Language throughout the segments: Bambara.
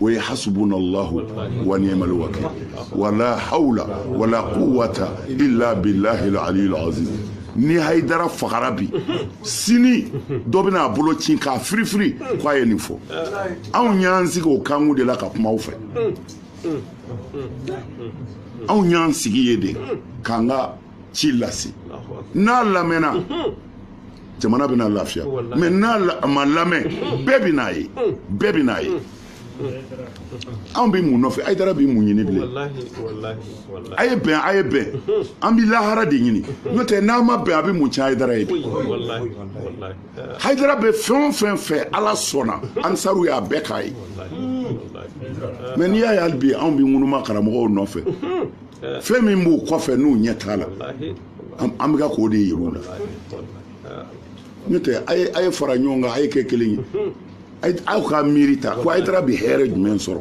o ye hasubunallahu wa ni'mal wakil wala hawla wala quwwata illa billahi al-aliyyil azim ni hayidara fagara bi sini dɔ bɛna a bolo ci k'a firifiri k'a ye nin fɔ anw y'an sigi o kanku de la ka kuma aw fɛ anw y'an sigi yen de k'an ka ci lase n'a lamɛnna jamana bɛna lafiya mais n'a ma lamɛn bɛɛ bɛ n'a ye bɛɛ bɛ n'a ye anw bɛ mun nɔfɛ hayidara bɛ mun ɲini bilen a ye bɛn a ye bɛn an bɛ lahara de ɲini n'o tɛ n'a ma bɛn a bɛ mun tiɲɛ hayidara ye bi hayidara bɛ fɛn o fɛn fɛ ala sɔnna ansaru y'a bɛɛ k'a ye mais n'i y'a ye hali bi anw bɛ ŋunuma karamɔgɔw nɔfɛ fɛn min b'u kɔfɛ n'u ɲɛ t'a la an bɛ ka k'o de yir'u la n'o tɛ a ye fara ɲɔgɔn kan a ye kɛ kelen ye aw ka miiri ta ko hayidara bɛ hɛrɛ jumɛn sɔrɔ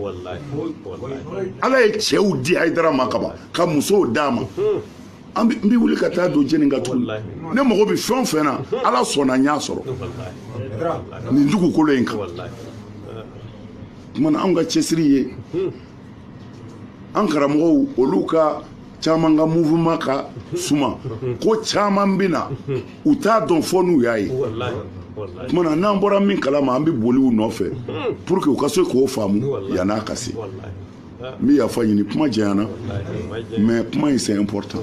ala ye cɛw di hayidara ma kaban ka musow d'a ma n bɛ wuli ka taa don jeni ka tugu ne mago bɛ fɛn o fɛn na ala sɔnna n y'a sɔrɔ nin dugukolo in kan o tuma na anw ka cɛsiri ye an karamɔgɔw olu ka caman ka mouvement ka suma ko caman bɛ na u t'a dɔn fɔ n'u y'a ye tuma na n'an bɔra min kala ma an bɛ boli u nɔfɛ pour que u ka se k'o faamu yann'a ka se n bɛ yafa ɲini kuma janyana mais kuma in c'est important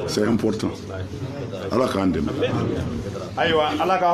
c'est important ala k'an dɛmɛ ayiwa ala ka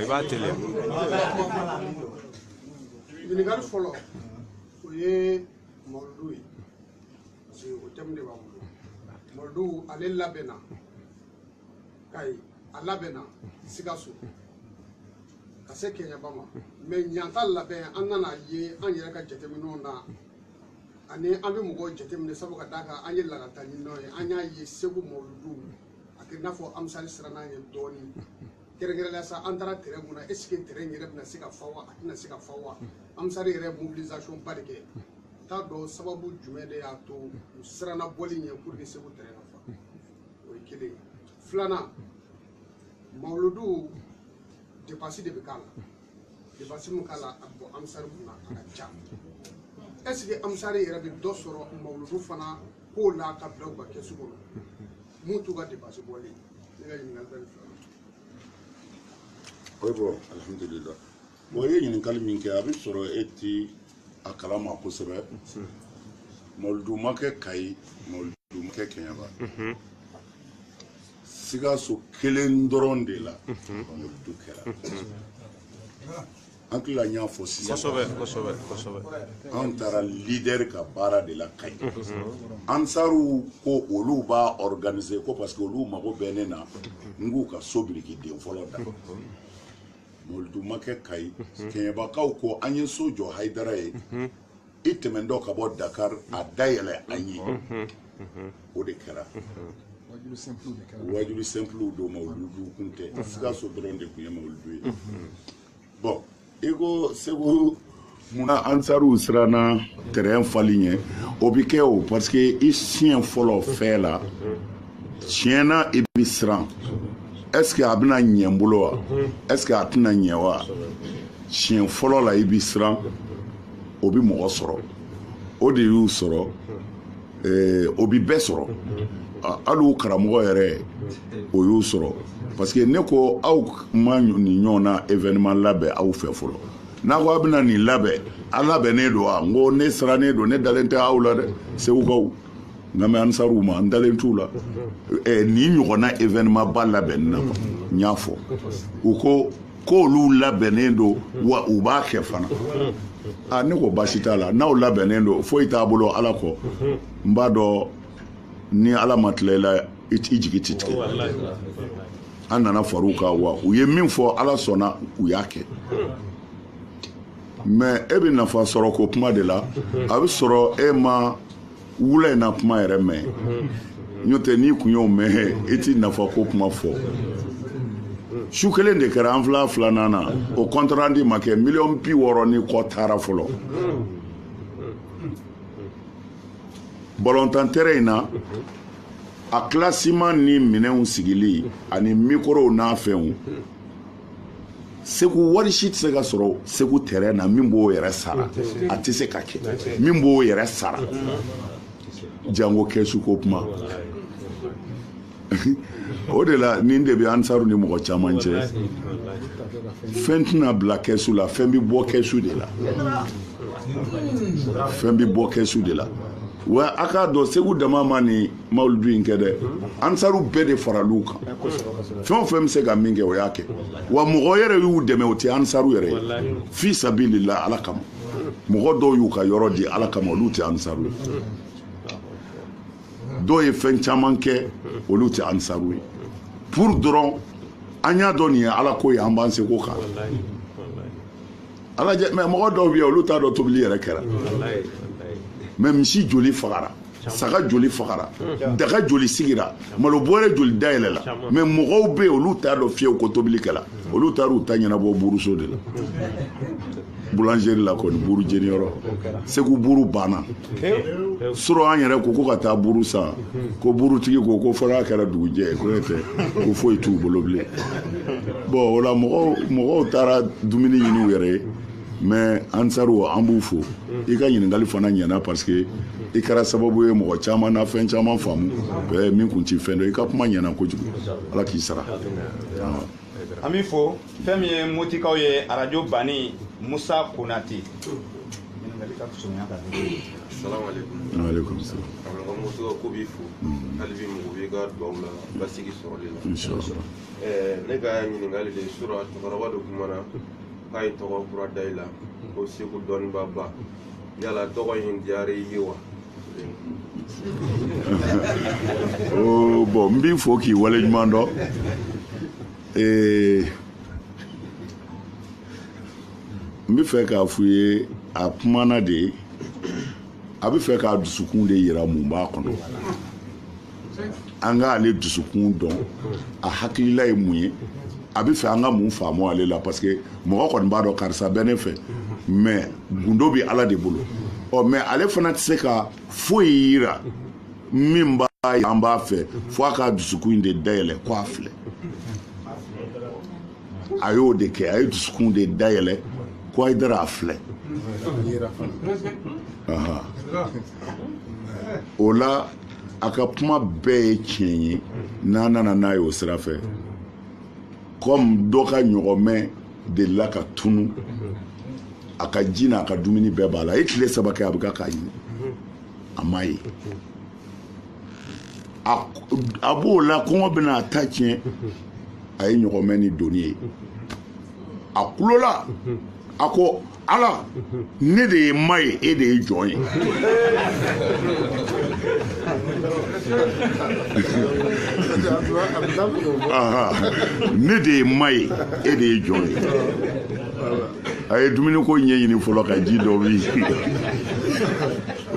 i b'a teliya ɲininkali fɔlɔ o ye mɔludu ye parce que o tɛmu de b'an bolo mɔludu ale labɛnna kayi a labɛnna sikaso ka se kɛɲɛba ma mais ɲinan ta labɛn an nana ye an yɛrɛ ka jateminɛw na ani an bɛ mɔgɔw jateminɛ sabu ka d'a kan an ye lakalita ɲininaw ye an y'a ye segu mɔludu a kɛ i n'a fɔ ansaru siranna ye dɔɔnin kɛrɛnkɛrɛnnenya sa an taara terɛn min na est ce que terɛn yɛrɛ bɛna se ka fa wa a tɛna se ka fa wa ansaru yɛrɛ mobilisation ba de kɛ n t'a dɔn sababu jumɛn de y'a to u siranna bɔli ɲɛ pour que segu terɛn ka fa o ye kelen filanan mawuludu depansi de bɛ k'a la depansi min k'a la a bɔ ansaru kunna a ka ca est ce que ansaru yɛrɛ bɛ dɔ sɔrɔ mawuludu fana k'o n'a ka bila u ka kɛsu kɔnɔ mun t'u ka depansi bɔli ne ka ɲininkali bɛ nin fila la. oui bon alihamudulila bon i ye ɲininkali min kɛ a bɛ sɔrɔ e ti a kalama kosɛbɛ mawuludu ma kɛ kayi mawuludu ma kɛ kɛɲɛba sikaso kelen dɔrɔn de la mawuludu kɛra an tila n y'a fɔ sisan an taara lidɛri ka baara de la kayi ansariw ko olu b'a organise ko parce que olu mago bɛ ne na n k'u ka so biriki den fɔlɔ da mawuludu ma kɛ kayi kɛɲɛbakaw ko an ye so jɔ hayidara ye i tɛmɛntɔ ka bɔ dakar a dayɛlɛ an ye o de kɛra wajulu simple don mawuludu kun tɛ sikaso dɔrɔn de tun ye mawuludu ye bon i ko segu munna ansariw siranna tɛrɛn fali ɲɛ o bi kɛ o parce que i siɲɛ fɔlɔ fɛn la tiɲɛ na i bi siran est ce que a bɛna ɲɛ n bolo wa est ce que a tɛna ɲɛ wa siɲɛ fɔlɔ la i bi siran o bi mɔgɔ sɔrɔ o de y'u sɔrɔ eh, o bi bɛɛ sɔrɔ ah, hali u karamɔgɔ yɛrɛ o y'o sɔrɔ parce que ne ko aw ma nin ɲɔgɔnna événement labɛn aw fɛ fɔlɔ n'a ko aw bɛna nin labɛn a labɛnnen don wa n ko ne sirannen don ne dalen tɛ aw la dɛ segukaw nka mais ansaruw ma n dalen t'u la eh, nin ɲɔgɔnna événement ba labɛnni na n y'a fɔ u ko k'olu labɛnnen don wa u b'a kɛ fana a ne ko baasi t'a la n'aw labɛnnen don foyi t'an bolo ala kɔ n b'a dɔn ni ala ma tila i la i jigi ti tigɛ an nana far'u kan wa u ye min fɔ ala sɔnna u y'a kɛ mais e bɛ nafa sɔrɔ ko kuma de la a bɛ sɔrɔ e ma wula in na kuma yɛrɛ mɛn n'o tɛ n'i kun y'o mɛn i ti nafa ko kuma fɔ su kelen de kɛra an fila filanan na o compte rendu ma kɛ miliyɔn bi wɔɔrɔ ni kɔ taara fɔlɔ bɔlɔntan tɛrɛn in na a kilasiman ni minɛnw sigili ani mikorow n'a fɛnw segu wari si tɛ se ka sɔrɔ segu tɛrɛn na min b'o yɛrɛ sara a tɛ se ka kɛ min b'o yɛrɛ sara jango kɛsu ko kuma o de la nin de bɛ ansaru ni mɔgɔ caman cɛ fɛn tɛna bila kɛsu la fɛn bɛ bɔ kɛsu de la fɛn bɛ bɔ kɛsu de la wa a k'a dɔn segu dama ma nin mawuludu in kɛ dɛ ansaru bɛɛ de faral'u kan fɛn o fɛn bɛ se ka min kɛ o y'a kɛ wa mɔgɔ yɛrɛ y'u dɛmɛ o tɛ ansaru yɛrɛ ye fi sabilila ala kama mɔgɔ dɔw y'u ka yɔrɔ di ala kama olu tɛ ansaru ye dɔw ye fɛn caman kɛ olu tɛ ansaru ye pour dɔrɔn an y'a dɔn nin ye ala ko ye an b'an seko k'a la mɛ mɔgɔ dɔw bɛ yen olu t'a dɔn tobili yɛrɛ kɛra mɛ misi joli fagara saga joli fagara daga joli sigira malo bɔrɛ joli dayɛlɛla mɛ mɔgɔw bɛ yen olu t'a dɔn fiyewu ko tobili kɛla olu taar'u ta ɲɛnabɔ buuruso de la boulangerie la kɔni buuru jeniyɔrɔ segu buuru banna surɔ an yɛrɛ ko ko ka taa buuru san ko buurutigi ko ko fo n'a kɛra dugujɛ ko n'o tɛ ko foyi t'u bolo bilen bɔn o la mɔgɔw taara dumuni ɲini u yɛrɛ ye mɛ ansaru an b'u fo i ka ɲininkali fana ɲɛna parce que i kɛra sababu ye mɔgɔ caman na fɛn caman faamu min kun ti fɛn dɔn i ka kuma ɲɛna kojugu ala k'i sara an b'i fo fɛn min ye motikaw ye arajo bani musa konate aleykum salam awlaka muso ka ko b'i fo hali bi mago b'i ka duwaw la basigi sɔrɔli la ne ka ɲininkali de surɔ cɛkɔrɔba dɔ kumana k'a ye tɔgɔ kura da i la ko segu dɔnnibaaba yala tɔgɔ in diyara i ye wa oh, bɔn n b'i fo k'i waleɲuman dɔn eh, n bɛ fɛ k'a f'u ye a kumana de a bɛ fɛ k'a dusukun de yira mun b'a kɔnɔ an ka ale dusukun dɔn a hakilila ye mun ye a bɛ fɛ an ka mun faamu ale la parce que mɔgɔ kɔni b'a dɔn karisa bɛ ne fɛ mɛ gundo bɛ ala de bolo ɔ mɛ ale fana tɛ se ka foyi yira min b'a ye an b'a fɛ fo a ka dusukun de dayɛlɛ ko a filɛ a y'o de kɛ a ye dusukun de dayɛlɛ ko a dara a filɛ o la a ka kuma bɛɛ ye tiɲɛ ye n'an nana n'a ye o sira fɛ kɔmi dɔ ka ɲɔgɔmɛ delila ka tunu a ka ji n'a ka dumuni bɛɛ b'a la a ye tile saba kɛ a bɛ ka k'a ɲini a ma ye a b'o la kɔngɔ bɛna a ta tiɲɛ a ye ɲɔgɔmɛ ni doni ye a kulola a ko ala ne de ye ma ye e de ye jɔn ye ne de ye ma ye e de ye jɔn ye a ye dumuni ko ɲɛɲini fɔlɔ ka ji dɔ min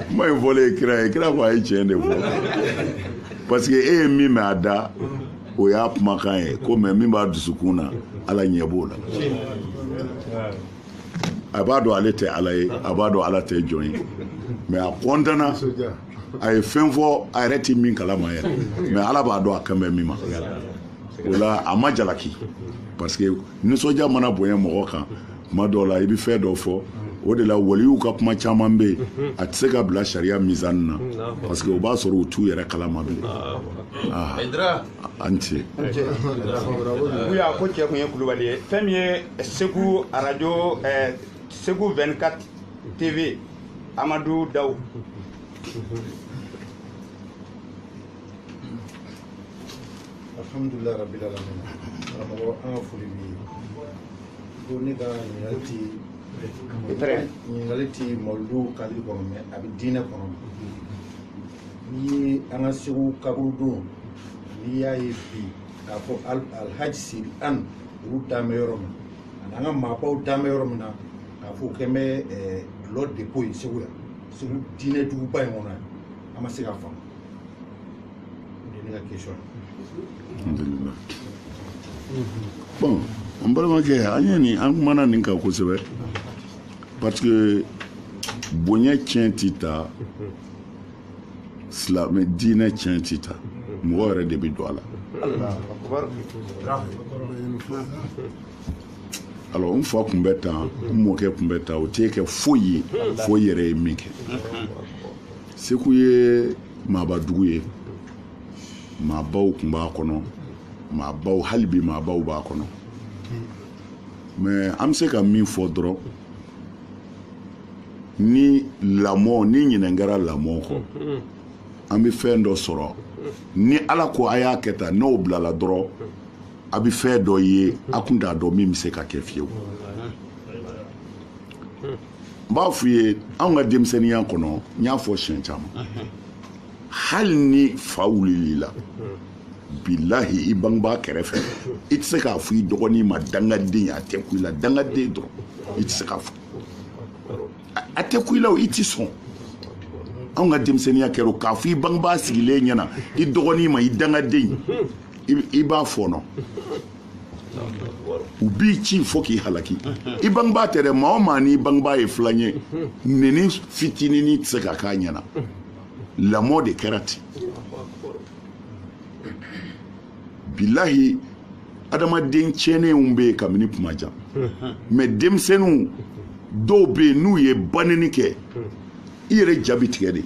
kuma in fɔlen kira ye kira ko a ye tiɲɛ de fɔ parce que e ye min mɛn a da o y'a kumakan ye ko mais min b'a dusukun na ala ɲɛ b'o la a b'a dɔn ale tɛ ala ye a b'a dɔn ala tɛ jɔn ye mais a kɔntana a ye fɛn fɔ a yɛrɛ tɛ min kalama yɛrɛ mais ala b'a dɔn a kan bɛ min ma o la a ma jalaki parce que nisɔndiya mana bonya mɔgɔ kan tuma dɔw la i bɛ fɛn dɔ fɔ o de la waliyuw ka kuma caman bɛ yen a tɛ se ka bila sariya mizan na parce que o b'a sɔrɔ u t'u yɛrɛ kalama bilen ah. a ni ce. u y'a ko cɛ tun ye kulubali ye fɛn min ye segu radio eh, segu 24 tv amadu dawu. alhamdulilayi rabil alamin karamɔgɔ an ka foli b'i ye ko ne ka ɲininkali ti mawulidu cadre kɔnɔ mais a bɛ diinɛ kɔnɔ n'i ye an ka segu kaburu don n'i y'a ye bi k'a fɔ alhaji siri an olu dan bɛ yɔrɔ min na ani an ka maabaw dan bɛ yɔrɔ min na k'a fɔ u kɛn bɛ dulɔ dépôt ye segu yan segu diinɛ duguba in kɔnɔ yan an ma se k'a faamu bon an balimakɛ an ye nin an kumana nin kan kosɛbɛ parce que bonya tiɲɛ ti ta silamɛ diinɛ tiɲɛ ti ta mɔgɔ yɛrɛ de bɛ don a la alors n fa tun bɛ tan n mɔkɛ tun bɛ tan o tɛ kɛ foyi ye fo i yɛrɛ ye min kɛ segu ye maaba dugu ye maabaw tun b'a kɔnɔ maabaw hali bi maabaw b'a kɔnɔ mais an bɛ se ka min fɔ dɔrɔn ni lamɔ ni ɲinɛ kɛra lamɔ kɔ an bɛ fɛn dɔ sɔrɔ ni ala ko a y'a kɛ tan n'o bilala dɔrɔn a bɛ fɛn dɔ ye a kun t'a dɔn min bɛ se ka kɛ fiyewu n b'a f'u ye anw ka denmisɛnninya kɔnɔ n y'a fɔ siɲɛ caman hali ni fa wulil'i la bilahi i bangebaa kɛrɛfɛ i tɛ se k'a fɔ i dɔgɔnin ma dangaden a tɛ kun i la dangaden dɔrɔn i tɛ se k'a fɔ a tɛ kun i la o i tɛ sɔn anw ka denmisɛnninya kɛra k'a fɔ i bangebaa sigilen ɲɛna i dɔgɔnin ma i dangaden i b'a fɔɔnɔ u b'i ci fo k'i halaki i bangebaa tɛ dɛ maa o maa n'i bangebaa ye filan ye neni fitinini tɛ se ka k'a ɲɛna lamɔ de kɛra ten bilahi adamaden tiɲɛnenw bɛ yen kabini kuma jan mɛ denmisɛnninw dɔw bɛ yen n'u ye baneni kɛ i yɛrɛ ja bɛ tigɛ de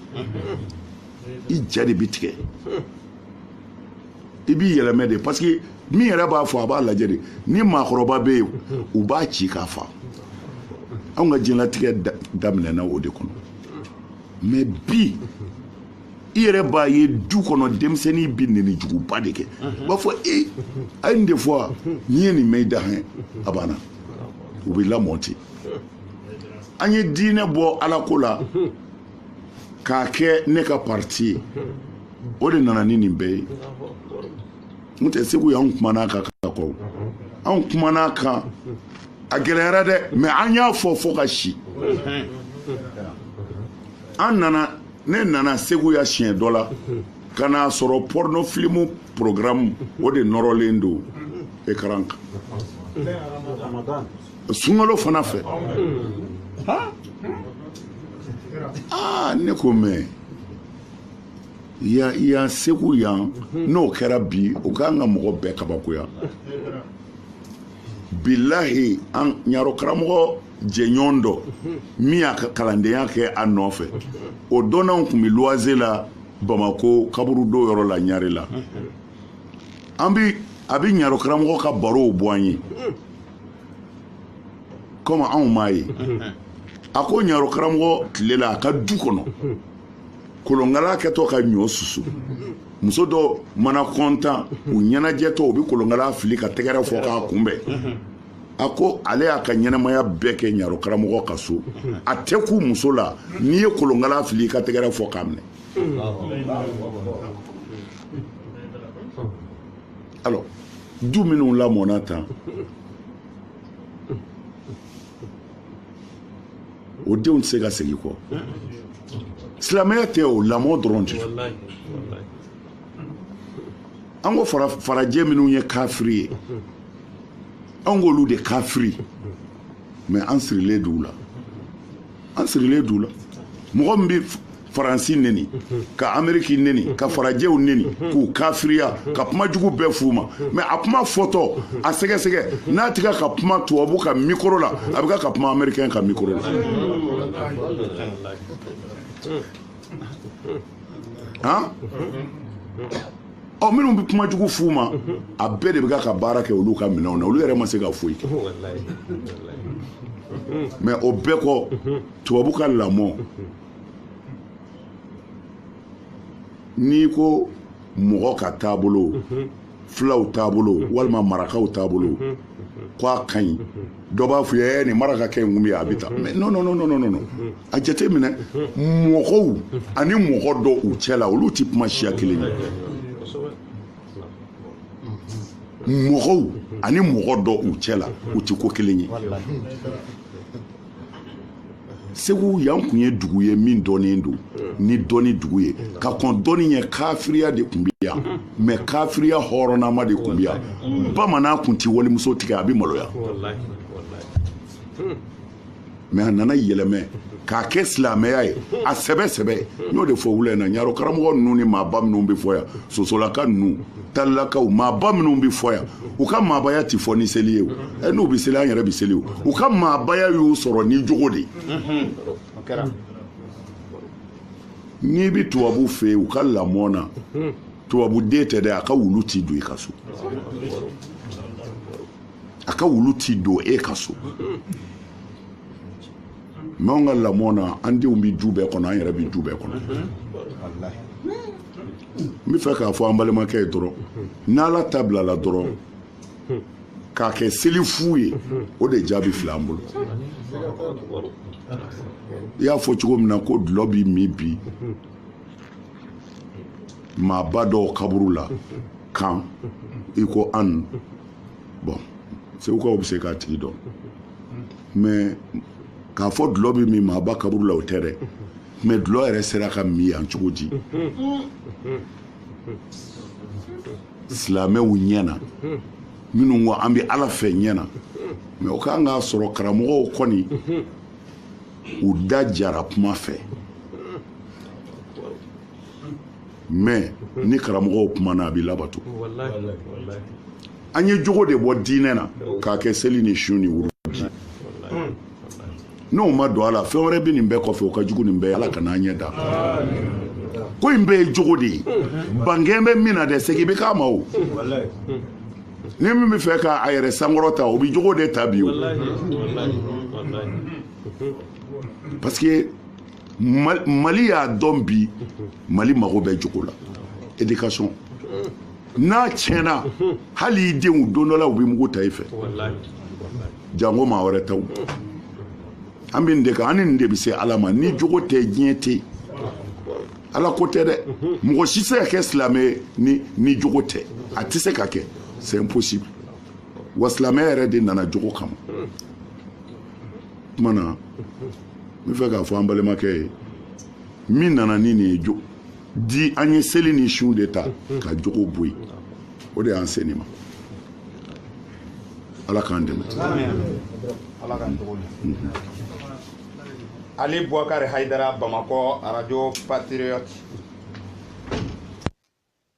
i ja de bɛ tigɛ i b'i yɛlɛmɛ de parce que min yɛrɛ b'a fɔ a b'a lajɛ de ni maakɔrɔba bɛ yen u b'a ci k'a fa anw ka diɲɛlatigɛ daminɛna o de kɔnɔ mɛ bi i yɛrɛ b'a ye du kɔnɔ denmisɛnnin bɛ neni juguba de kɛ u b'a fɔ e a ye nin de fɔ wa n'i ye nin mɛn i da hɛn a banna u bɛ lamɔ ten an ye diinɛ bɔ ala ko la k'a kɛ ne ka parti ye o de nana ni nin bɛɛ ye n tɛ segu yan an kumana a kan ka kɔ anw kumana a kan a gɛlɛyara dɛ mɛ an y'a fɔ fo ka si an nana ne nana segu yan siɲɛ dɔ la ka n'a sɔrɔ pɔrɔnɔfilimu porogramu o de nɔrɔlen don ekaran kan sunkalo fana fɛ aa ne ko mɛ yan yan segu yan n'o kɛra bi o k'an ka mɔgɔ bɛɛ kabakoya bilahi an ɲaro karamɔgɔ jɛɲɔgɔn dɔ min y'a ka kalandenya kɛ a nɔfɛ o dɔ n'a tun bɛ luwaze la bamako kaburudo yɔrɔ la ɲarela an bi a bɛ ɲaro karamɔgɔ ka barow bɔ an ye komi anw m'a ye a ko ɲaro karamɔgɔ tile la a ka du kɔnɔ kolonkala kɛtɔ ka ɲɔ susu muso dɔ mana kɔntan u ɲɛnajɛtɔ u bɛ kolonkala fili ka tɛgɛrɛ fɔ k'a kunbɛn a ko ale y'a ka ɲɛnamaya bɛɛ kɛ ɲaro karamɔgɔ ka so a tɛ kun muso la n'i ye kolonkala fili i ka tɛgɛrɛ fɔ k'a minɛ alors du minnu lamɔna tan o denw tɛ se ka segin kɔ silamɛya tɛ o lamɔ dɔrɔn tɛ an ko farajɛ minnu ye kafiri ye an k'olu de kafiri mɛ an sirilen d'u la an sirilen d'u la mɔgɔ min bɛ faransi neni ka ameriki neni ka farajɛw neni k'u kafiriya ka kuma jugu bɛɛ f'u ma mɛ a kuma fɔtɔ a sɛgɛsɛgɛ n'a tɛ ka ka kuma tubabu ka mikoro la a bɛ ka ka kuma amerikɛn ka mikoro la han ɔ minnu bɛ kuma jugu f'u ma a bɛɛ de bɛ ka ka baara kɛ olu ka minɛnw na olu yɛrɛ ma se ka foyi kɛ mɛ o bɛɛ kɔ tubabu ka lamɔ n'i ko mɔgɔ ka taabolo mhm. fulaw taabolo mhm. walima marakaw taabolo mhm. ko a ka ɲi dɔ b'a fɔ ye ni marakakɛ in kun bɛ yan a bɛ taa mɛ non non non non non a jate minɛ mɔgɔw ani mɔgɔ dɔ u cɛ la olu tɛ kuma siya kelen ye mɔgɔw ani mɔgɔ dɔ u cɛ la u tɛ ko kelen ye segu yan kun ye dugu ye min dɔnnen don ni dɔnni dugu ye ka kɔn dɔnni ɲɛ kafiriya de kun bɛ yan mɛ kafiriya hɔrɔnama de kun bɛ yan bamanan kun tɛ walimuso tigɛ a bɛ maloya mɛ a nana yɛlɛmɛ k'a kɛ silamɛya ye a sɛbɛ sɛbɛ n y'o de fɔ wula in na ɲarɔ karamɔgɔ ninnu ni maaba minnu bɛ fɔ yan sosolaka ninnu talilakaw maaba minnu bɛ fɔ yan u ka maabaya tɛ fɔ ni seli ye o ɛ n'u bɛ seli an yɛrɛ bɛ seli o u ka maabaya y'u sɔrɔ ni jogo de ye n'i bɛ tubabu fɛ yen u ka lamɔ na tubabu den tɛ dɛ a ka wulu tɛ don i ka so a ka wulu tɛ don e ka so mɛ anw ka lamɔ na an denw bɛ du bɛɛ kɔnɔ an yɛrɛ bɛ du bɛɛ kɔnɔ n bɛ fɛ k'a fɔ an balimakɛ ye dɔrɔn n'ala ta bilala dɔrɔn k'a kɛ seli fu ye o de jaabi filɛ an bolo i y'a fɔ cogo min na ko dulɔ bɛ min bi maaba dɔw kaburu la kan i ko an bon segukaw bɛ se k'a tigi dɔn mɛ k'a fɔ dulɔ bɛ min maaba kaburu la o tɛ dɛ mɛ dulɔ yɛrɛ sera ka min yan cogo di silamɛw ɲɛ na minnu ko an bɛ ala fɛ ɲɛ na mɛ o kan k'a sɔrɔ karamɔgɔw kɔni u da jara kuma fɛ mɛ ni karamɔgɔw kumana a bɛ labato an ye jogo de bɔ diinɛ na k'a kɛ seli ni sun ni wuru n'o ma don a la fɛn wɛrɛ bɛ nin bɛɛ kɔfɛ o ka jugu nin bɛɛ ala kana an ɲɛ da ko in bɛɛ ye jogo de ye ban kɛlen bɛ min na dɛ segin bɛ k'a ma o ni min bɛ fɛ k'a yɛrɛ sankɔrɔta o bɛ jogo de ta bi o parce que mali y'a dɔn bi mali mago bɛ jogo la éducation n'a tiɲɛna hali i denw don dɔ la u bɛ mugu ta i fɛ jango maa wɛrɛ taw an bɛ nin de kan an ni nin de bɛ se ala ma ni jogo tɛ diɲɛ tɛ ala ko tɛ dɛ mɔgɔ si tɛ se ka kɛ silamɛ ye ni ni jogo tɛ a tɛ se ka kɛ c'est impossible wa silamɛya yɛrɛ de nana jogo kama tuma na n bɛ fɛ k'a fɔ an balimakɛ ye min nana ni nin ye jo di an ye seli ni sun de ta ka jogo bɔ yen o de y'an se nin ma ala k'an dɛmɛ ali buwakari hayidara bamakɔ radio patriote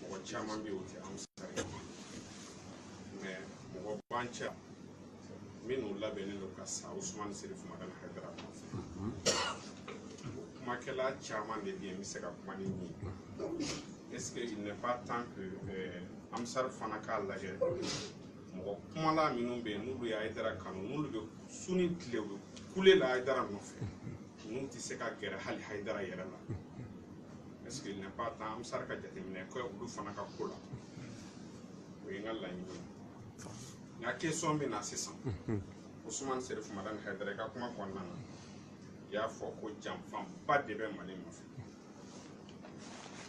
mɔgɔ caman bɛ yen o tɛ ansar ye mais mɔgɔ b'an cɛ minnu labɛnnen don ka sa usumani serifu madani hayidara nɔfɛ o kumakɛla caman de bɛ yen n bɛ se ka kuma ni min ye est ce que il n'est pas temps que euh, ansar fana k'a lajɛ mɔgɔ kumala minnu bɛ yen n'olu ye hayidara kanu n'olu bɛ su ni tile u bɛ kule la hayidara nɔfɛ n'u tɛ se ka gɛrɛ hali hayidara yɛrɛ la est-ce qu'il n'est pas temps ansar ka jateminɛ kɛ olu fana ka ko la o ye n ka laɲini ye n ka question bɛ na sisan Ousmane Serif Madani Haidara i ka kuma kɔnɔna na i y'a fɔ ko janfaba de bɛ Mali nɔfɛ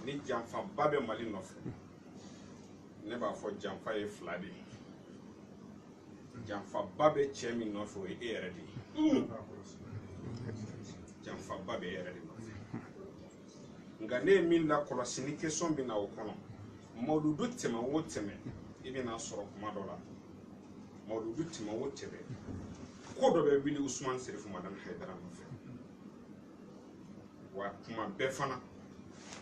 ni janfaba bɛ Mali nɔfɛ ne b'a fɔ janfa ye fila de ye janfaba bɛ cɛ min nɔfɛ o ye e yɛrɛ de ye janfaba bɛ e yɛrɛ de nɔfɛ nka ne ye min lakɔlɔsi ni question bɛ na o kɔnɔ mawuludu tɛmɛ o tɛmɛ i bɛna sɔrɔ kuma dɔ la mawuludu tɛmɛ o tɛmɛ ko dɔ bɛ wuli usumani serifu madani hayidara nɔfɛ wa kuma bɛɛ fana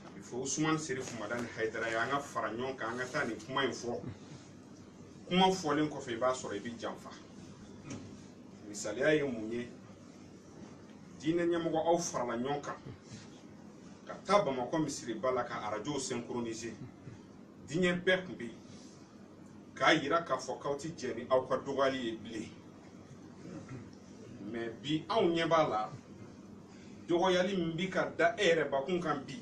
a bɛ fɔ usumani serifu madani hayidara ye an ka fara ɲɔgɔn kan an ka taa nin kuma in fɔ kuma fɔlen kɔfɛ i b'a sɔrɔ i bɛ janfa misaliya ye mun ye diinɛ ɲɛmɔgɔ aw farala ɲɔgɔn kan ka taa bamakɔ misiriba la ka arajow synchroniser diɲɛ bɛɛ tun bɛ yen k'a yira k'a fɔ k'aw tɛ jɛn ni aw ka dɔgɔyali ye bilen mais bi anw ɲɛ b'a la dɔgɔyali min bɛ ka da e yɛrɛ bakun kan bi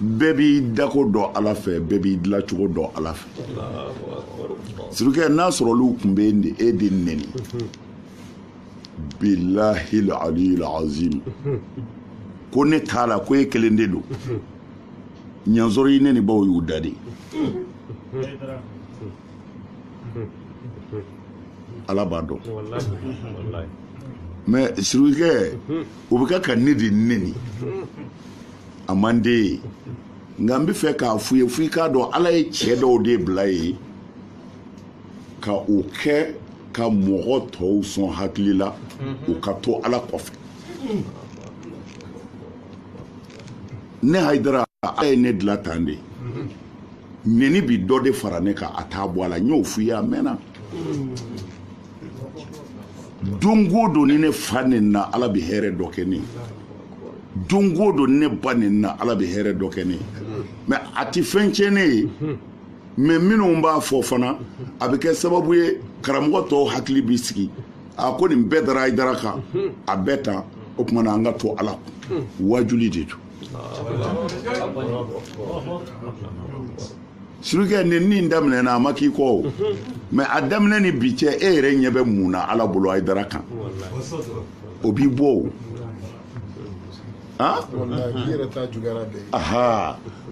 bɛɛ b'i dako dɔn ala fɛ bɛɛ b'i dilancogo dɔn ala fɛ surukɛ n'a sɔrɔ olu tun bɛ e e de neni bilahi aliyil azim ko ne t'a la ko e kelen de don n y'a sɔrɔ i nenibaw y'u da de ala b'a dɔn mais surukɛ o bɛ kɛ ka ne de neni a man di n ye nka n bɛ fɛ k'a f'u ye f'i k'a dɔn ala ye cɛ dɔw de bila ye ka o kɛ ka mɔgɔ tɔw sɔn hakili la u ka to ala kɔfɛ ne hayidara ala ye ne dilan tan de nɛni bi dɔ de fara ne kan a t'a bɔ a la n y'o f'i ye a mɛnna don o don ni ne fa nenina ala bɛ hɛrɛ dɔ kɛ ne ye don o don ni ne ba nenina ala bɛ hɛrɛ dɔ kɛ ne ye mais a tɛ fɛn tiɲɛ ne ye mais minnu b'a fɔ fana a bɛ kɛ sababu ye karamɔgɔ tɔw hakili bɛ sigi a ko nin bɛɛ dara hayidara kan a bɛ tan o tuma na an ka to ala kɔ wajuli de don Surukɛ nɛni nin daminɛna a ma k'i kɔ o mais a daminɛ ni bi cɛ e yɛrɛ ɲɛ bɛ mun na ala bolo hayidara kan o b'i bɔ o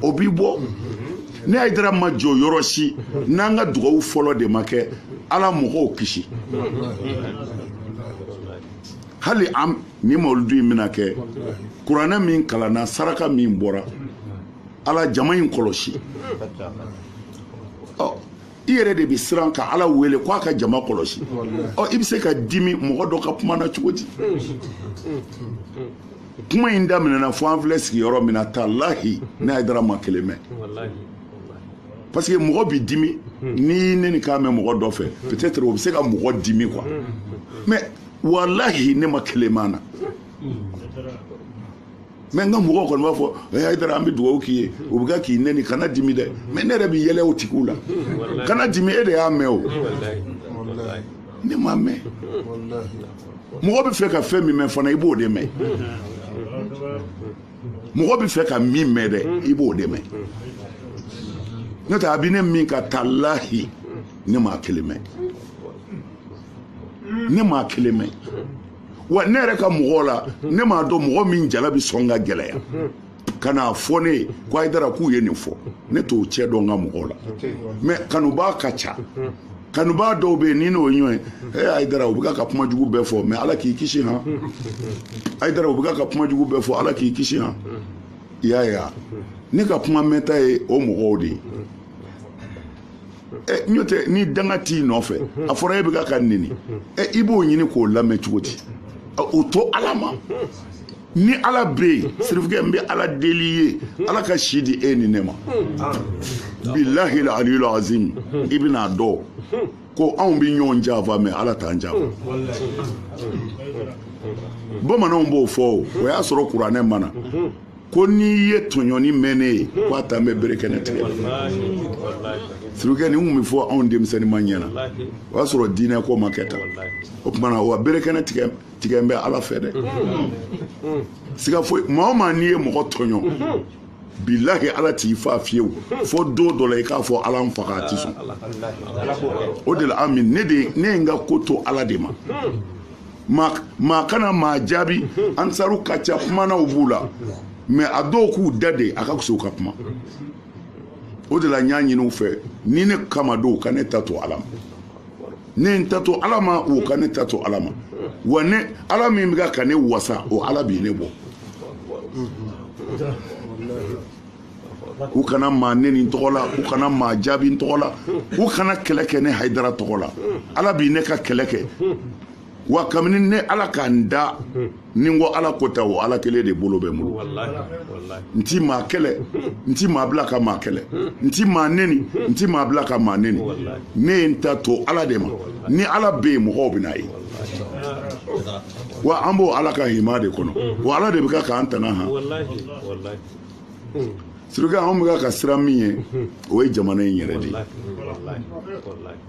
o b'i bɔ ne hayidara ma jɔ yɔrɔ si n'an ka dugawu fɔlɔ de ma kɛ ala mɔgɔw kisi hali an ni mawuludu in bɛna kɛ kuranɛ min kalanna saraka min bɔra ala jama in kɔlɔsi ɔ i yɛrɛ de bɛ siran ka ala wele ko a ka jama kɔlɔsi ɔ i bɛ se ka dimi mɔgɔ dɔ ka kuma na cogo di kuma in daminɛna fo an filɛ sigi yɔrɔ min na talahi ne hayidara ma kelen mɛn parce que mɔgɔ bɛ dimi n'i y'i nɛnikan mɛn mɔgɔ dɔ fɛ peut-être o bɛ se ka mɔgɔ dimi quoi mais walahi ne ma kelen mɛn a na mais n ka mɔgɔw kɔni b'a fɔ eh, hayidara an bɛ dugawu k'i ye o bɛ kɛ k'i nɛni kana dimi dɛ mais ne yɛrɛ bɛ yɛlɛ o tigiw la kana dimi e de y'a mɛn o ne m'a mɛn mɔgɔ bɛ fɛ ka fɛn min mɛn fana i b'o de mɛn mɔgɔ bɛ fɛ ka min mɛn dɛ i b'o de mɛn n'o tɛ a bɛ ne min kan talahi ne m'a kelen mɛn ne m'a kelen mɛn wa ne yɛrɛ ka mɔgɔw la ne m'a dɔn mɔgɔ min jala bi sɔn ka gɛlɛya ka n'a fɔ ne ye ko hayidara k'u ye nin fɔ ne t'o cɛ dɔn n ka mɔgɔw la mɛ kanubaa ka ca kanubaa dɔw bɛ yen ni n'o ye ɲɔgɔn ye ee hayidara u bɛ ka kuma jugu bɛɛ fɔ mɛ ala k'i kisi han hayidara u bɛ ka kuma jugu bɛɛ fɔ ala k'i kisi han i y'a ye wa ne ka kuma mɛnta ye o mɔgɔw de ye n'o tɛ ni danga t'i nɔfɛ a fɔra e bɛ ka ka neni i b'o ɲini k'o lamɛn cogo di o to ala ma ni ala bɛ yen sirifikɛ n bɛ ala deli ye ala ka si di e ni ne ma bilahi aliyu azim i bɛn'a dɔn ko anw bɛ ɲɔgɔn janfa mɛ ala t'an janfa bamananw b'o fɔ o o y'a sɔrɔ kuranɛ ma na ko n'i ye tɔɲɔni mɛn ne ye ko a tan bɛ bere kɛnɛ tigɛ sirikɛ nin kun bɛ fɔ anw denmisɛnninma ɲɛ na o y'a sɔrɔ diinɛ ko ma kɛ tan o tuma na wa bere kɛnɛ tigɛlen bɛ ala fɛ dɛ siga foyi maa o maa n'i ye mɔgɔ tɔɲɔ bilahi ala t'i fa fiyewu fo don dɔ la i k'a fɔ ala n faga a ti sɔn o de la ami ne ye n ka ko to ala de ma maa kana maa jaabi ansaru ka ca kumanaw b'u la mɛ a dɔw k'u da de a ka kuso ka kuma o de la n y'a ɲini u fɛ ni ne kama don ka ne ta to ala ma ne n ta to ala ma o ka ne ta to ala ma wa ne ala min bɛ ka ne wasa o ala bi ne bɔ u kana maa neni n tɔgɔ la u kana maa jaabi n tɔgɔ la u kana kɛlɛ kɛ ne hayidara tɔgɔ la ala bi ne ka kɛlɛ kɛ wa kabini ne ala ka n da ni n ko ala ko ta o ala kelen de bolo bɛ n bolo n ti maa kɛlɛ n ti maa bila ka maa kɛlɛ n ti maa neni n ti maa bila ka maa neni ne ye n ta to ala de ma ni ala bɛ yen mɔgɔw bɛn'a ye wa an b'o ala ka hima de kɔnɔ wa ala de bɛ ka k'an tanga han sirikɛ anw bɛ ka siran min ye o ye jamana in yɛrɛ de ye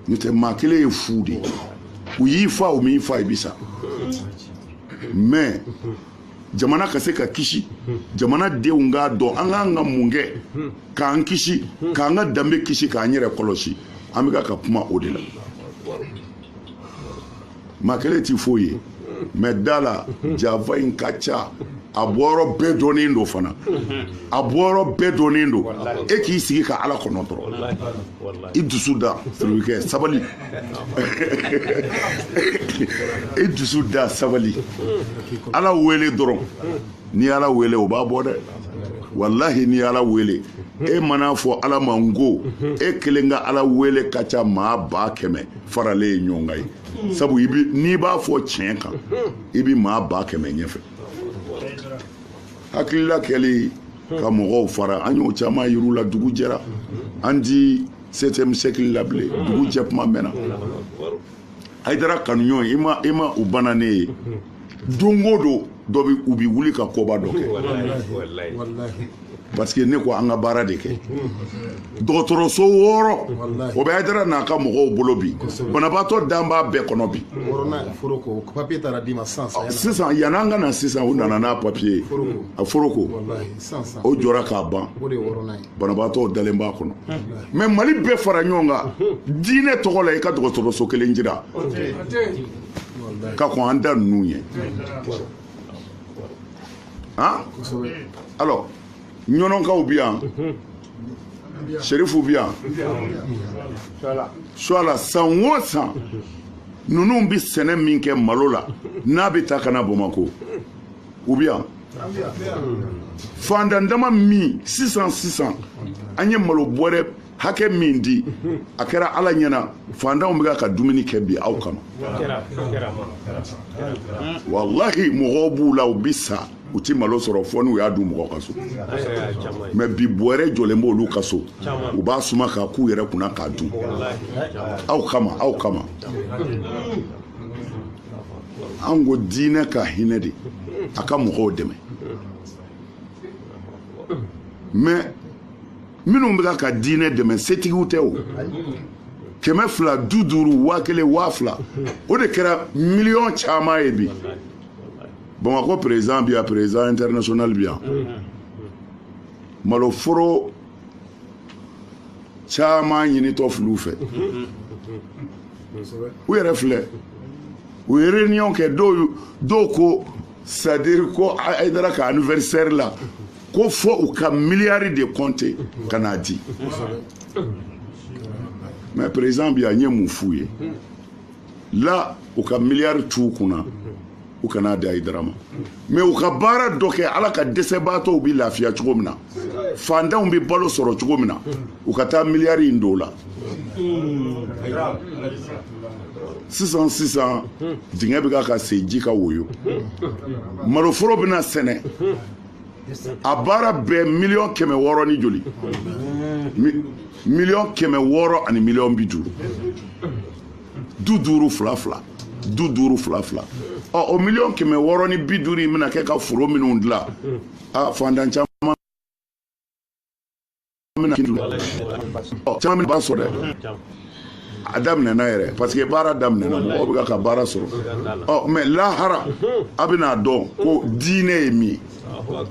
n'o tɛ maa kelen ye fu de ye u y'i fa u m'i fa i bi sa mɛ jamana ka se ka kisi jamana denw k'a dɔn an ka kan ka mun kɛ k'an kisi k'an ka danbe kisi k'an yɛrɛ kɔlɔsi an bɛ ka kuma o de la maa kelen ti foyi ye mɛ da la janfa in ka ca a bɔyɔrɔ bɛɛ dɔnnen don fana a bɔyɔrɔ bɛɛ dɔnnen don e k'i sigi ka ala kɔnɔ dɔrɔn i dusu da sirikɛ sabali i dusu da sabali ala wele dɔrɔn ni ala wele o b'a bɔ dɛ walahi ni ala wele e man'a fɔ ala ma n ko e kelen ka ala wele ka ca maa ba kɛmɛ faralen ye ɲɔgɔn kan ye sabu n'i b'a fɔ tiɲɛ kan i bɛ maa ba kɛmɛ ɲɛfɛ hakilila kɛli ka mɔgɔw fara an y'o caman yir'u la dugu jɛra an ti septième siècle la bilen dugu jɛ kuma mɛnna hayidara kanuɲɔgɔn i ma i ma u banna ne ye don o don dɔ bi u bi wuli ka koba dɔ kɛ parce que ne ko an ka baara de kɛ dɔgɔtɔrɔso wɔɔrɔ o bɛ hayidara n'a ka mɔgɔw bolo bi banabaatɔ dan b'a bɛɛ kɔnɔ bi sisan yanni an ka na sisan u nana n'a papiye ye a foroko o jɔra k'a ban banabaatɔ dalen b'a kɔnɔ mais mali bɛɛ fara ɲɔgɔn kan diinɛ tɔgɔ la i ka dɔgɔtɔrɔso kelen jira ka kɔn an ta ninnu ɲɛ han alors ɲɔnɔnkaw bi yan serifu bi yan suala san o san ninnu bi sɛnɛ min kɛ malo la n'a bɛ taa ka na bamakɔ u bɛ yan fantan dama min sisan sisan an ye malo bɔrɛ hakɛ min di a kɛra ala ɲɛna fantanw bɛ ka dumuni kɛ bi aw kama walahi mɔgɔw b'u la u bɛ sa u tɛ malo sɔrɔ fo n'u y'a dun mɔgɔ ka so mais bi bɔrɛ jɔlen b'olu ka so u b'a suma k'a k'u yɛrɛ kunna k'a dun aw kama aw kama an ko diinɛ ka hinɛ de a ka mɔgɔw dɛmɛ mais minnu bɛ ka diinɛ dɛmɛ setigiw tɛ o kɛmɛ fila bi duuru waa kelen waa fila o de kɛra miliyɔn caman ye bi bamakɔ président bi yan président international bi yan maloforo caman ɲinitɔ fil'u fɛ u yɛrɛ filɛ u ye réunion kɛ dɔw dɔw ko c'est à dire ko hayidara ka anniversaire la ko fo u ka miliyari de compter ka n'a di mais président bi yan n ye mun f'u ye la u ka miliyari t'u kunna u kan'a di hayidara ma mais u ka baara dɔ kɛ ala ka dɛsɛbaatɔw bɛ lafiya cogo min na fantanw bɛ balo sɔrɔ cogo min na u ka taa miliyari in don la sisan sisan dingɛ bɛ ka ka sen ji ka woyo maloforo bɛna sɛnɛ a baara bɛɛ miliyɔn kɛmɛ wɔɔrɔ ni joli miliyɔn kɛmɛ wɔɔrɔ ani miliyɔn bi duuru du duuru fila fila du duuru fila fila ɔ o miliyɔn kɛmɛ wɔɔrɔ ni bi duuru in bɛna kɛ ka foro minnu dilan a fantan caman bɛna kiri ɔ caman bɛna baara sɔrɔ dɛ a daminɛna yɛrɛ parce que baara daminɛna mɔgɔw bɛ ka ka baara sɔrɔ ɔ mɛ lahara a bɛna dɔn ko diinɛ ye min ye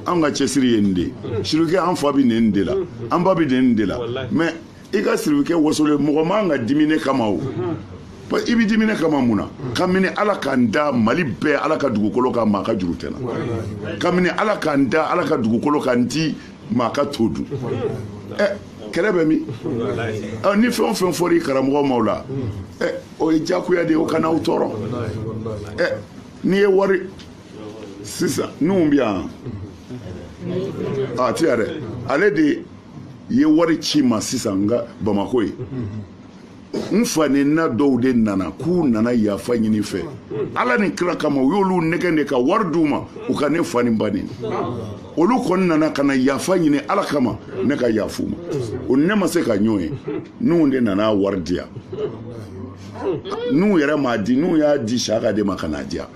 an ka cɛsiri ye nin de ye sirike an fa bɛ nin de la an ba bɛ nin de la mɛ i ka siribikɛ wasolen mɔgɔ man ka dimi ne kama o i bɛ dimi ne kama mun na kabini ala k'an da mali bɛɛ ala ka dugukolo kan maa ka juru tɛ n na kabini ala k'an da ala ka dugukolo kan n ti maa ka to dun ɛ kɛlɛ bɛ min ni fɛn o fɛn fɔra i karamɔgɔ ma o la ɛ o ye diyagoya de ye o kana aw tɔɔrɔ ɛ n'i ye wari sisan n'u bɛ yan a ti yan dɛ ale de ye wari ci n ma sisan n ka bamako ye n fa nenina dɔw de nana k'u nana yafa ɲini n fɛ ala ni kira kama u y'olu nɛgɛn de ka wari d'u ma u ka ne fa ni ba neni olu kɔni nana ka na yafa ɲini ala kama ne ka yafa u ma o ne ma se ka ɲɔgɔn ye n'u de nana wari di yan n'u yɛrɛ m'a di n'u y'a di saka de ma ka n'a di yan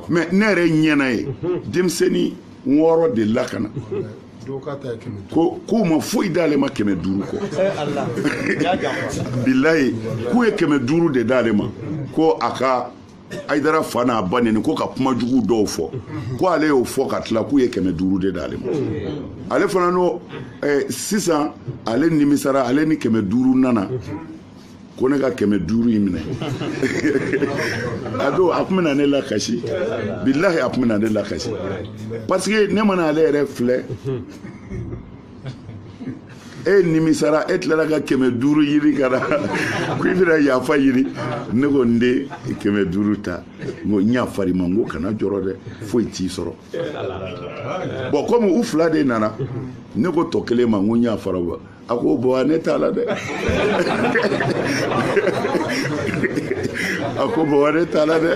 mɛ ne yɛrɛ ɲɛna ye denmisɛnnin wɔɔrɔ de la ka na ko k'u ma foyi d'ale ma kɛmɛ duuru kɔ bilayi k'u ye kɛmɛ duuru de d'ale ma ko a ka ayidara fa n'a ba neni ko ka kuma jugu dɔw fɔ ko ale y'o fɔ ka tila k'u ye kɛmɛ duuru de d'ale ma ale fana n'o sisan ale nimisara ale ni kɛmɛ duuru nana ko ne ka kɛmɛ duuru in minɛ a don a tun bɛna ne lakasi bilahi a tun bɛna ne lakasi parce que ne mana ale yɛrɛ filɛ e nimisara e tilara ka kɛmɛ duuru ɲini ka na ko i bɛna yafa ɲini ne ko n den kɛmɛ duuru ta n ko n yafara i ma n ko kana jɔrɔ dɛ foyi t'i sɔrɔ bɔn kɔmi u fila de nana ne ko tɔ kelen ma n ko n yafara a ko buwa ne t'a la dɛ a ko buwa ne t'a la dɛ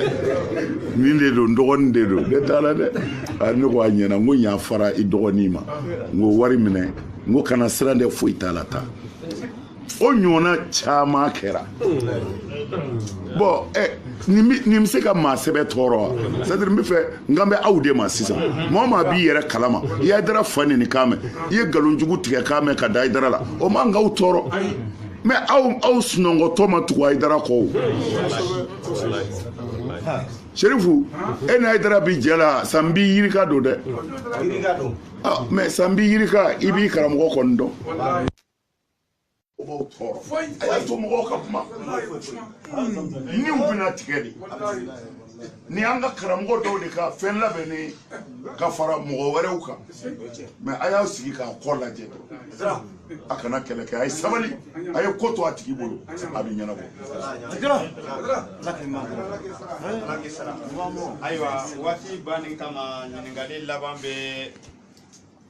nin de don n dɔgɔnin de don ne t'a la dɛ ne ko a ɲɛna n ko n yafara i dɔgɔnin ma n ko wari minɛ n ko kana siran dɛ foyi t'a la taa o ɲɔgɔnna caman kɛra bɔn ɛ nin bɛ se ka maa sɛbɛ tɔɔrɔ wa c'est à dire n bɛ fɛ n kan bɛ aw de ma sisan maa o maa b'i yɛrɛ kalama i ye ayidara fa neni kan mɛn i ye nkalon jugu tigɛ kan mɛn ka da ayidara la o man k'aw tɔɔrɔ mɛ aw aw sunɔgɔtɔ ma tugu ayidara kɔ o serifu e ni ayidara bi jɛ la san bi yirika don dɛ mɛ san bi yirika i b'i karamɔgɔ kɔni dɔn o b'aw tɔɔrɔ a y'a to mɔgɔw ka kuma ni u bɛna tigɛ de ni an ka karamɔgɔ dɔw de ka fɛn labɛnnen ka fara mɔgɔ wɛrɛw kan mais a y'a sigi k'a kɔ lajɛ a kana kɛlɛ kɛ a ye sabali a ye ko to a tigi bolo a bɛ ɲɛnabɔ ayiwa waati banni kama ɲininkali laban bɛ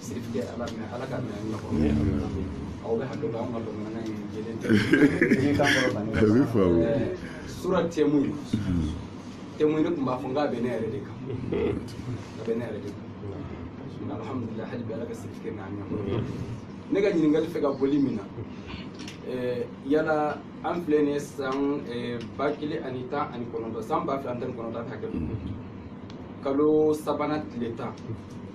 sirifkɛ ala mɛ ala ka mɛ nɔgɔ aw bɛ hakɛ to an ka bamanankan in jɛlen tɛ surɔ tɛmu ye tɛmu ne tun b'a fɔ n k'a bɛ ne yɛrɛ de kan a bɛ ne yɛrɛ de kan alhamdulilayi hali bi ala ka sirifkɛ n'a ɲɛ ne ka ɲininkali fɛ ka boli min na yala an filɛ nin ye san ba kelen ani tan ani kɔnɔntɔn san ba fila ani tan ni kɔnɔntɔn hakɛ kalo sabanan tile tan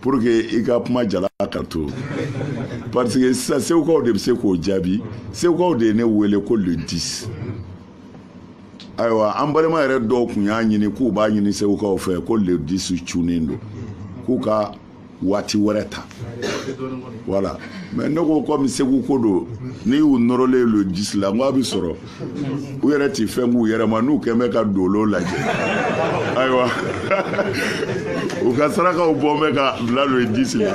pour que i ka kuma jala ka to parce que sisan segukaw de bɛ se k'o jaabi segukaw de ye ne wele ko le 10 ayiwa an balima yɛrɛ dɔw tun y'a ɲini k'u b'a ɲini segukaw fɛ ko le 10 cunnen don k'u ka waati wɛrɛ ta voilà mais ne ko komi segu ko don n'i y'u nɔrɔlen le 10 la n ko a bɛ sɔrɔ u yɛrɛ tɛ fɛn k'u yɛrɛ ma n'u tun bɛ ka dolo lajɛ ayiwa u ka sarakaw bɔ bɛ ka bila le 10 la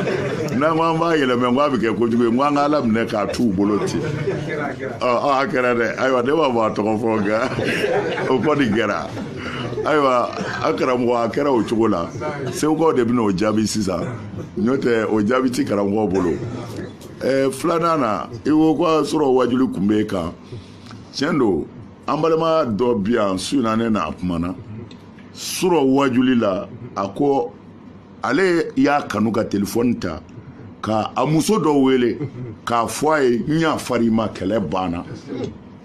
n'an ko an b'a yɛlɛmɛ ko a bɛ kɛ kojugu ye ko an ka ala minɛ k'a t'u bolo ten ɔ a kɛra dɛ ayiwa ne b'a fɔ a tɔgɔ fɔ nka o kɔni kɛra ayiwa an karamɔgɔ a kɛra o cogo la segukaw de bɛna o jaabi sisan n'o tɛ o jaabi ti karamɔgɔ bolo ɛɛ filanan na i ko k'a surɔ wajuli tun b'e kan tiɲɛ don an balima dɔ bi yan su in na ne n'a kumana surɔ wajuli la a ko ale y'a kanu ka telefɔni ta ka a muso dɔ wele k'a fɔ a ye n yafar'i ma kɛlɛ banna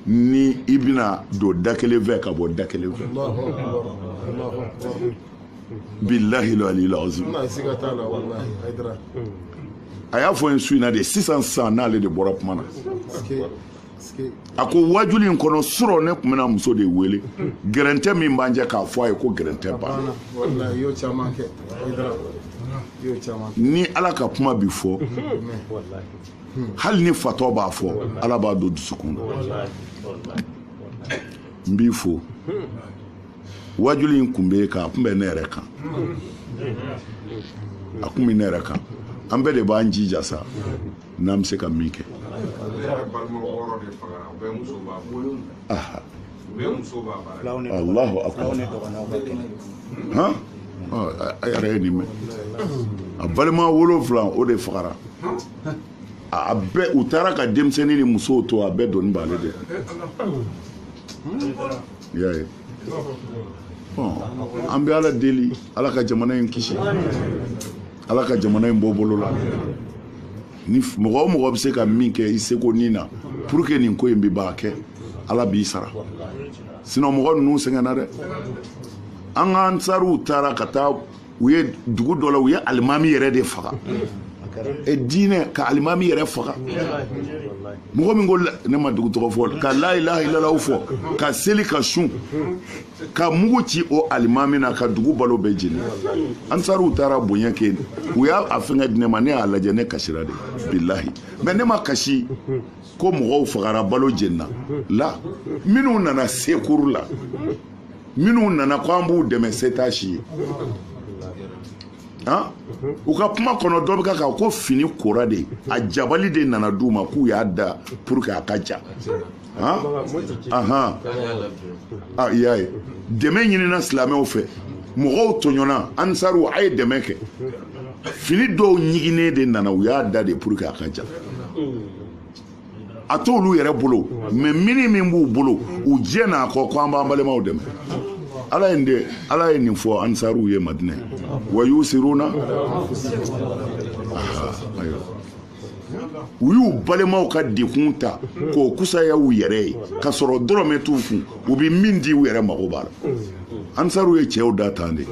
ni i bɛna don da kelen fɛ ka bɔ da kelen fɛ bilahi aliyil azim a y'a fɔ n ye su in na de sisan sisan n'ale de bɔra kuma na a ko wajuli in kɔnɔ surɔ ne tun bɛna muso de wele gɛrɛntɛ min b'an cɛ k'a fɔ a ye ko gɛrɛntɛ banna ni ala ka kuma bi fɔ hali ni fatɔ b'a fɔ ala b'a don dusukun na n b'i fo wajuli in kun bɛ kan a kun bɛ ne yɛrɛ kan a kun bɛ ne yɛrɛ kan an bɛɛ de b'an jija sa n'an bɛ se ka min kɛ alahu akbar han a yɛrɛ ye nin mɛn a balima wolonfila o de fagara a bɛɛ u taara ka denmisɛnnin ni musow to a bɛɛ doni b'ale de i y'a ye bɔn an bɛ ala deli ala ka jamana in kisi ala ka jamana in bɔ bolo la ni mɔgɔ o mɔgɔ bɛ se ka min kɛ i seko nin na pour que nin ko in bɛ b'a kɛ ala b'i sara sinon mɔgɔ ninnu sɛgɛnna dɛ an ka ansaruw taara ka taa u ye dugu dɔ la u ye alimami yɛrɛ de faga e diinɛ ka alimami yɛrɛ faga mɔgɔ min ko ne ma dugu tɔgɔ fɔ ka layilaha ilalaw fɔ ka seli ka sun ka mugu ci o alimami na ka dugu balo bɛɛ jeni ansaruw taara bonya kɛ u y'a fɛngɛ di ne ma ne y'a lajɛ ne kasira de bilahi mais ne ma kasi ko mɔgɔw fagara balo jenina la minnu nana sekuru la minnu nana ko an b'u dɛmɛ setasi ye han u ka kuma kɔnɔ dɔ bɛ ka kan ko fini kora de a jabali de nana d'u ma k'u y'a da pour que a ka ja han ahan a y'a ye dɛmɛ ɲinina silamɛw fɛ mɔgɔw tɔɲɔna ansaruw a ye dɛmɛ kɛ fini dɔw ɲiginnen de nana u y'a da de pour que a ka ja a t'olu yɛrɛ bolo mais mini min b'u bolo u diɲɛn'a kɔ ko an b'an balimaw dɛmɛ ala ye de ala ye nin fɔ ansaruw ye madinɛ wa yusiruna u y'u balimaw ka dekun ta k'o kusaya u yɛrɛ ye k'a sɔrɔ dɔrɔmɛ t'u kun u bɛ min di u yɛrɛ mago b'a la ansaruw ye cɛw da tan de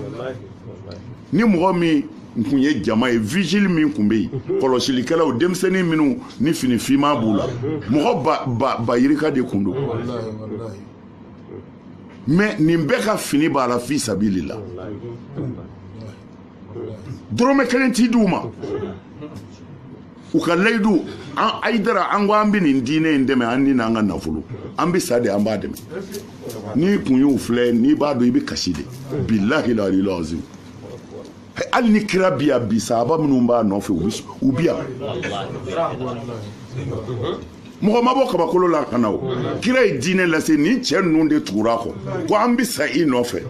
ni mɔgɔ min kun ye jama ye vigile min kun bɛ yen kɔlɔsilikɛlaw denmisɛnnin minnu ni fini finman b'u la mɔgɔ ba yirika de kun don mais nin bɛɛ ka fini b'a la fi sabili la dɔrɔmɛ kelen tɛ d'u ma u ka layidu ayidara an ko an bɛ nin diinɛ in dɛmɛ an ni n'an ka nafolo an bɛ sa de an b'a dɛmɛ n'i kun y'u filɛ n'i b'a dɔn i bɛ kasi de bilahi la ali lazim hali ni kira bi yan bi sahaba minnu b'a nɔfɛ u bi yan mɔgɔ ma bɔ kabakolo la ka na o kira ye diinɛ lase nin cɛ ninnu de tugur'a kɔ ko an bɛ sa i nɔfɛ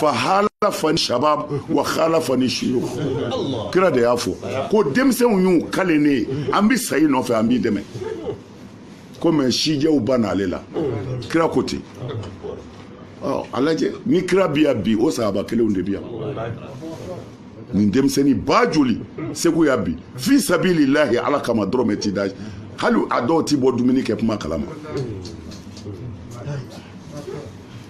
fahalafani shabab wa khalafani shuyukh kira de y'a fɔ ko denmisɛnw y'u kale ne ye an bɛ sa i nɔfɛ an b'i dɛmɛ ko mɛ sijɛw bann'ale la kira ko ten ɔ a lajɛ ni kira bi yan bi o sahaba kelenw de bi yan nin denmisɛnnin ba joli segu yan bi fi sabilillahi ala kama dɔrɔmɛ ti da hali a dɔw ti bɔ dumuni kɛ kuma kalama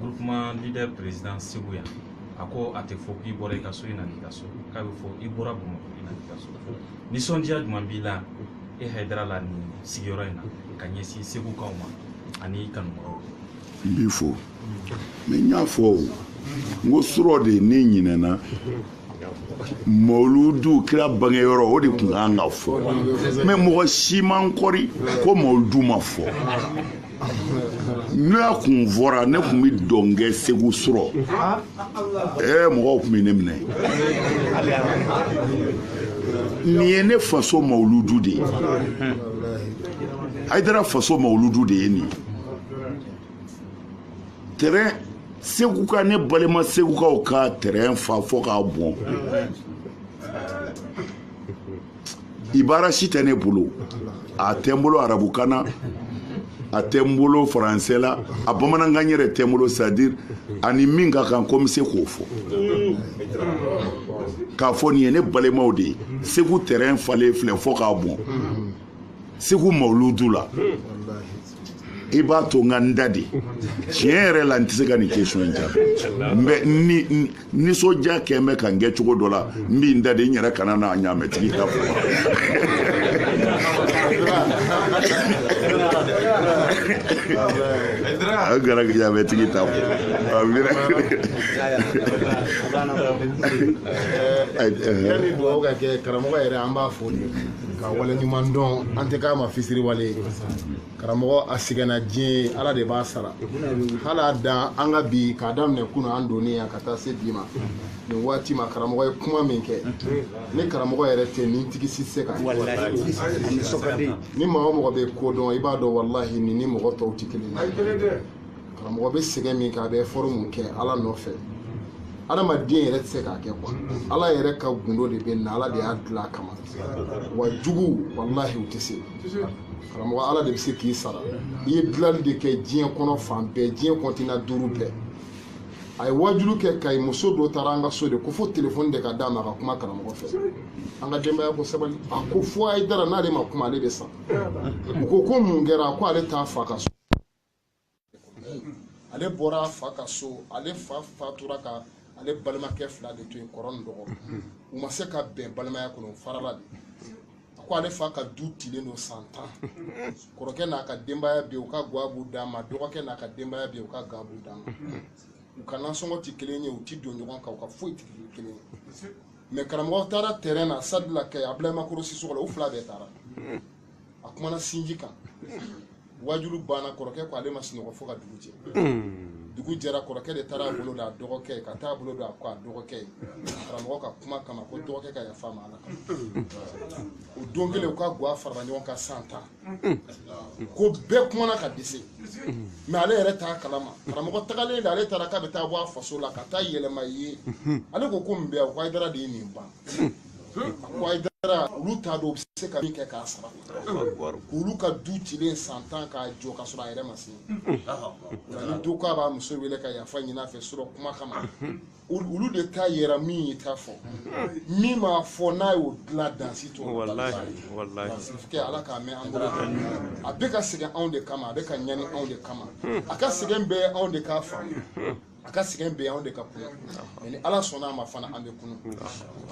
groupement leader président segu yan a ko a tɛ fɔ k'i bɔra i ka so i nana i ka so k'a bɛ fɔ i bɔra bamakɔ i nana i ka so nisɔndiya jumɛn b'i la e hayidara la nin sigiyɔrɔ in na ka ɲɛsin segukaw ma ani i kanubagaw n b'i fo mɛ n y'a fɔ o n ko surɔ de ne ɲinɛna mawuludu kira bangeyɔrɔ o de tun kan ka fɔ mɛ mɔgɔ si ma n kɔri ko mawuludu ma fɔ n'a kun fɔra ne tun bɛ dɔn kɛ segu surɔ ɛɛ mɔgɔw tun bɛ ne minɛ nin ye ne faso mawuludu de ye hayidara faso mawuludu de ye nin ye terrain segu ka ne balima segukaw ka terrain fa fɔ k'a bɔn ibara si tɛ ne bolo a tɛ n bolo arabukan na a tɛ n bolo faransɛ la a bamanankan yɛrɛ tɛ n bolo c'est à dire a ni min ka kan ko n bɛ se k'o fɔ k'a fɔ nin ye ne balimaw de ye segu terrain falen filɛ fɔ k'a bɔn segu mawuludu la i b'a to n ka n da de tiɲɛ yɛrɛ la n tɛ se ka nin question in jaabi mɛ nisɔndiya kɛlen bɛ ka n kɛ cogo dɔ la n bi n da de n yɛrɛ kana na ɲaamɛtigi ta fɔ a gara ɲaamɛtigi ta fɔ yanni dugawu ka kɛ karamɔgɔ yɛrɛ an b'a fo de k'a waleɲuman dɔn an tɛ k'a ma fisiriwale ye karamɔgɔ a sɛgɛnna diɲɛ ye ala de b'a sara hali a dan an ka bi k'a daminɛ kunun an donnen yan ka taa se bi ma nin waati ma karamɔgɔ ye kuma min kɛ ni karamɔgɔ yɛrɛ tɛ nintigi si tɛ se ka ni maa o mɔgɔ bɛ ko dɔn i b'a dɔn walahi nin ni mɔgɔ tɔw tɛ kelen ye karamɔgɔ bɛ sɛgɛn min kɛ a bɛ effort mun kɛ ala nɔfɛ adamaden yɛrɛ tɛ se k'a kɛ quoi ala yɛrɛ ka gundo de bɛ na ala de y'a dilan a kama wa jugu walahi u tɛ se karamɔgɔ ala de bɛ se k'i sara i ye dilanli de kɛ diɲɛ kɔnɔ fan bɛɛ diɲɛ kɔntina duuru bɛɛ a ye wajulu kɛ kayi muso dɔ taara an ka so de ko fo telefɔni de ka d'a ma a ka kuma karamɔgɔ fɛ an ka denbaya ko sabali a ko fo hayidara n'ale ma kuma ale bɛ sa u ko ko mun kɛra ko ale t'a fa ka so ale bɔra a fa ka so ale fa fatura ka ale balimakɛ fila de to yen kɔrɔ ni dɔgɔ u ma se ka bɛn balimaya kɔnɔ farala de a ko ale fa ka du tilen don san tan kɔrɔkɛ n'a ka denbaya bɛ u ka ga b'u dama dɔgɔkɛ n'a ka denbaya bɛ u ka ga b'u dama u ka nasɔngɔ tɛ kelen ye u tɛ don ɲɔgɔn kan u ka foyi tɛ kelen ye mɛ karamɔgɔ taara tɛrɛn na sitadi la kayi abdulayi makɔrɔ sisɔkɔ la u fila bɛɛ taara a kumana sinji kan wajulu banna kɔrɔkɛ ko ale ma sunɔgɔ fo ka dugu jɛ hmm. dugu jɛra kɔrɔkɛ de taara a bolo da a dɔgɔkɛ ka taa a bolo da a kɔ a dɔgɔkɛ ye karamɔgɔ ka kuma kama ko dɔgɔkɛ ka yafa a ma ala kama hmm. o don kelen u ka gwa farala ɲɔgɔn kan san tan hmm. ko bɛɛ kumana ka dɛsɛ mɛ ale yɛrɛ t'a kalama karamɔgɔ tagalen de ale taara k'a bɛ taa bɔ a faso la ka taa yɛlɛma ye ale ko ko mun bɛ yan o ko hayidara de ye nin ban Dara olu t'a dɔn u bɛ se ka min kɛ k'a sara olu ka du cilen san tan k'a jɔ ka sɔrɔ a yɛrɛ ma se ni du k'a b'a muso wele ka yafa ɲin'a fɛ surɔ kuma kama olu de ta yera min ye ta fɔ min m'a fɔ n'a y'o dilan dan si t'o la ala k'a mɛn an bolo a bɛ ka sɛgɛn anw de kama a bɛ ka ɲani anw de kama a ka sɛgɛn bɛɛ anw de k'a faamu a ka sɛgɛn bɛ anw de ka kunna mɛ ni ala sɔnna a ma fana an bɛ kunun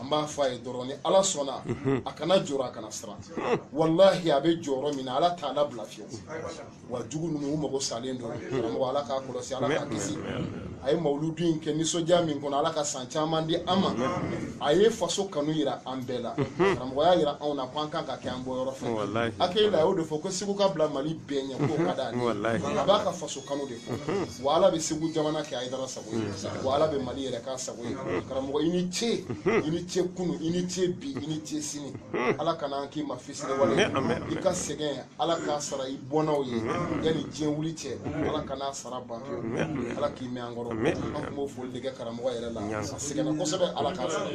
an b'a fɔ a ye dɔrɔn ni ala sɔnna a kana jɔrɔ a kana siran walahi a bɛ jɔyɔrɔ min na ala t'a labila fiyewu wa jugu ninnu u mago salen don karamɔgɔ ala k'a kɔlɔsi ala k'a kisi a ye mawuludu in kɛ nisɔndiya min kɔnɔ ala ka san caman di an ma a ye faso kanu yira an bɛɛ la karamɔgɔ y'a yira anw na ko an kan ka kɛ an bɔyɔrɔ fɛ a k'ale y'o de fɔ ko segu ka bila mali bɛɛ ɲɛ k'o ka d'a a b'a ka faso kanu de wa ala bɛ segu jamana kɛ hayidara sago ye wa ala bɛ mali yɛrɛ k'a sago ye karamɔgɔ i ni ce i ni ce kunu i ni ce bi i ni ce sini ala kana an k'i ma fisiriwale i ka sɛgɛn ala k'a sara i bɔnnaw ye yanni diɲɛ wuli cɛ ala kan'a sara ban pewu ala k'i mɛn an kɔrɔ an tun b'o foli de kɛ karamɔgɔ yɛrɛ la a sɛgɛnna kosɛbɛ ala k'a sara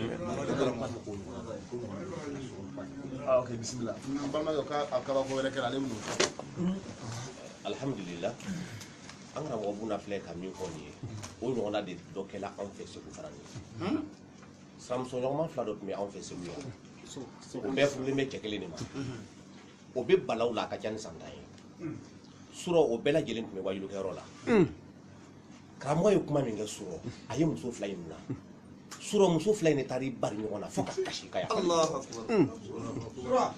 Ah, ok, bisimila. N balimakɛ, k'a kabako wɛrɛ kɛra ale bɛ n'o fɔ. alhamdulila an karamɔgɔ buna filɛ ka min fɔ nin ye o ɲɔgɔnna de dɔ kɛla anw fɛ segu fana ye sinamuso ɲɔgɔnma fila dɔ tun bɛ anw fɛ segu yan o bɛɛ furulen bɛ cɛ kelen de ma o bɛ balawu la a ka ca ni san tan ye surɔ o bɛɛ lajɛlen tun bɛ wajulukɛyɔrɔ la karamɔgɔ ye kuma min kɛ surɔ a ye muso fila in mina surɔ muso fila in de taara i bari ɲɔgɔn na fo ka kasi ka yafa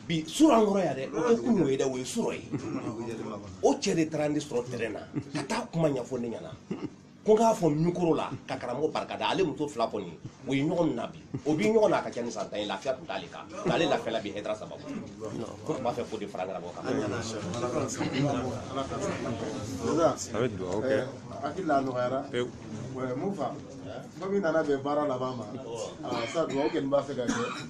bi surɔ an kɔrɔ yan dɛ o tɛ kunun ye dɛ o ye surɔ ye o cɛ de taara ne sɔrɔ tɛrɛn na ka taa kuma ɲɛfɔ ne ɲɛna ko n k'a fɔ mikoro la ka karamɔgɔ barika da ale muso fila kɔni o ye ɲɔgɔn mina bi o bi ɲɔgɔn na a ka ca ni san tan ye lafiya tun t'ale kan nka ale lafiyala bi Hayidara sababu ko tun b'a fɛ k'o de fara karamɔgɔ kan a bɛ dugawu kɛ hakili la nɔgɔyara pewu mun fa komi nana bɛn baara laban ma sa dugawu kɛ nin b'a fɛ ka kɛ